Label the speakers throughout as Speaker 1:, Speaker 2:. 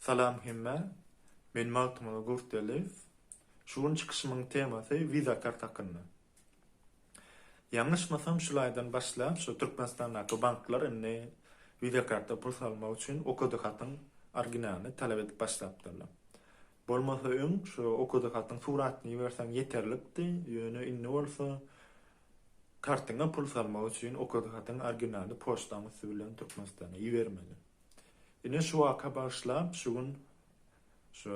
Speaker 1: Salam hemmä! Men Magtymguly Gurtgeldiýew. Şu gün çykyşymyň temasy Visa kart hakynda. Ýalňyşmasam şul aýdan başlap şu Türkmenistandaky banklar indi Visa karta pul salmak üçin okudy hatyň originalyny talap edip başlapdyrlar. Bolmasa öň şu okudy hatyň suratyny iberseň ýeterlikdi, ýöne indi bolsa kartyňa pul salmak üçin okudy hatyň originaly poçtaň üsti bilen Türkmenistana ibermeli. Ine şu waka bagyşlap şu gün şu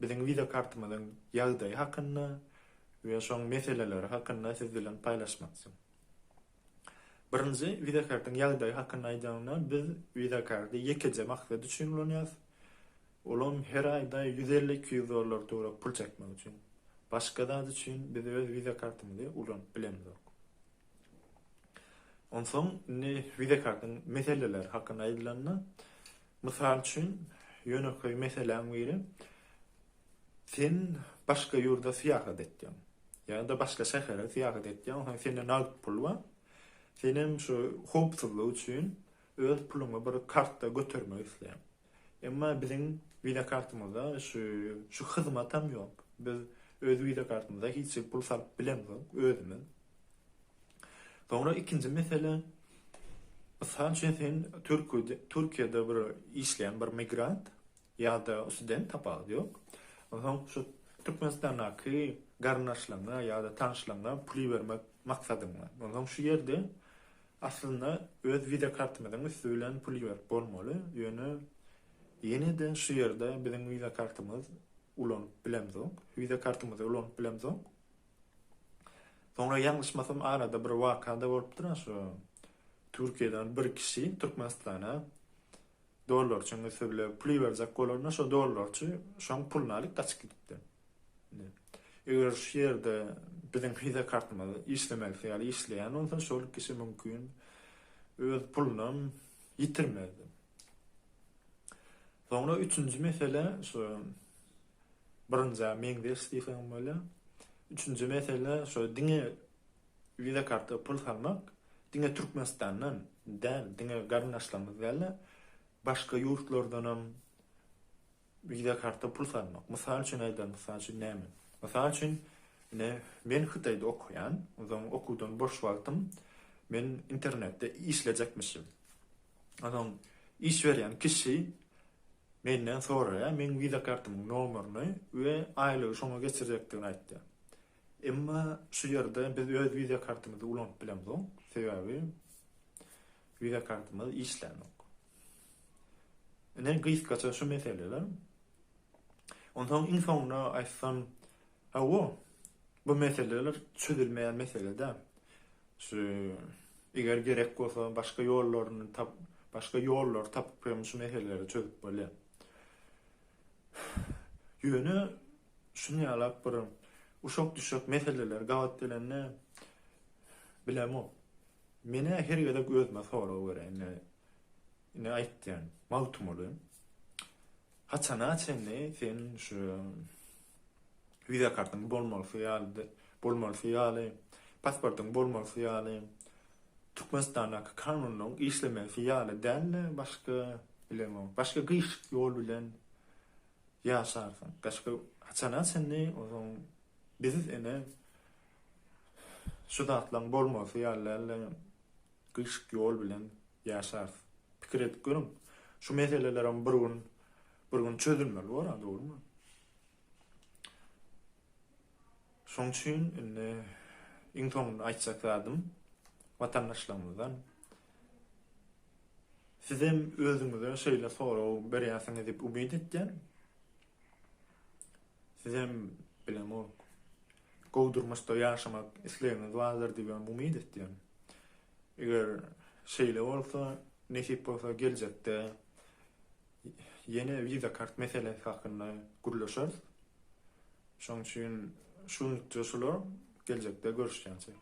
Speaker 1: biziň wiza kartymyzyň ýagdaýy hakynda we şoň meseleleri hakynda siz bilen paýlaşmakçym. Birinji wiza kartyň ýagdaýy hakynda aýdanyňda biz wiza karty ýekeje maksat üçin ulanýas olam her aýda ýüz elli iki ýüz dollar töwerek pul çekmek üçin. Başga zat üçin biz öz wiza kartymyzy ulanyp bilemizok. Onsoň indi Visa kartyň meseleleri hakynda aýdylanda, mysal üçin, ýönekeý meseläň biri, sen başga ýurda syýahat etýäň, ýa-da başga şähere syýahat etýäň, onsoň sende nagt pul bar, sen hem şu howpsuzlyk üçin öz puluňy bir kartda götermek isleýäň. Emma biziň Visa kartymyzda şu şu hyzmatam ýok. Biz öz Visa kartymyza hiç hili pul salyp bilemzok özümiz. Soňra ikinji mesele, mysal üçin sen Türkiýede Türkiýede bir işleýän bir migrant ýa-da student tapawudy ýok. Onsoň şu Türkmenistandaky garyndaşlaryňa ýa-da tanyşlaryňa pul ibermek maksadyň bar. Onsoň şu ýerde Aslynda öz visa kartymyzyň üsti bilen pul iberip bolmaly, ýöne ýene-de şu ýerde biziň visa kartymyz ulanyp bilemzok, visa kartymyzy ulanyp bilemzok. Soňra ýalňyşmasam arada bir waka-da bolupdyr-a şu Türkiýeden bir kişi Türkmenistana Dollarçyň müsürli puly berjek bolanda şo dollarçy şoň puluny alyp gaçyp gidipdi. Indi eger şu ýerde biziň wiza kartymyz işlemekçi ýaly işleýän bolsa şol kişi mümkin öz pulunam ýitirmezdi. Soňra üçünji mesele şu birinjä meňzeş diýseň bolýar. Üçünji mesele şo diňe Visa karta pul salmak diňe Türkmenistandan däl, diňe garyndaşlarymyz däl-de, başga ýurtlardanam visa karta pul salmak. Mysal üçin aýdaly, mysal üçin näme? Mysal üçin, ine, men Hytaýda okaýan, onsoň okuwdan boş wagtym men internetde işlejekmişim. Onsoň iş berýän kişi menden soraýar, meň visa kartamyň nomerini we aýlygy şoňa geçirjekdigini aýtýar. Emma şu ýerde biz öz wiza kartymyzy ulanyp bilemzok, sebäbi wiza kartymyz işlänok. Ine gysgaça şu meseleler. Onsoň iň soňuna aýtsam, hawa, bu meseleler çözülmeýän mesele däl. Şu eger gerek bolsa başga ýollaryny tap, başga ýollary tapyp hem şu meseleleri çözüp bolýar. Ýöne Şuny ýalap bir uşak düşek meseleler gabat gelende bilemok. Menä her gezek özüme sorag berer indi indi aýtýan Magtymguly haçana çenli sen şu wiza kartyň bolmalysy ýaly bolmalysy ýaly pasportyň bolmalysy ýaly Türkmenistandaky kanunyň işlemesi ýaly dälde başga bilemok başga gyşyk ýol bilen Ýaşarsyň. Gaşka haçana çenli ozaň biz ene şu zatlaň bolmasy ýalyla gyşyk ýol bilen ýaşarys. Pikir edip görüň. Şu meselelerim bir gün bir gün çözülmeli bor-a dogrymy? Şoň üçin indi iň soňunda aýtjak zadym watandaşlarymyzdan sizem özüňize şeýle sorag berýärsiňiz diýip umyt etýän. Sizem bilemok gowy durmuşda ýaşamak islegiňiz bardyr diýip umyt etýän. Eger şeýle bolsa, nesip bolsa geljekde Ýene Visa kart meselesi hakynda gürleşeris. Şoň üçin şunlukça şular, geljekde görüşýänçäk.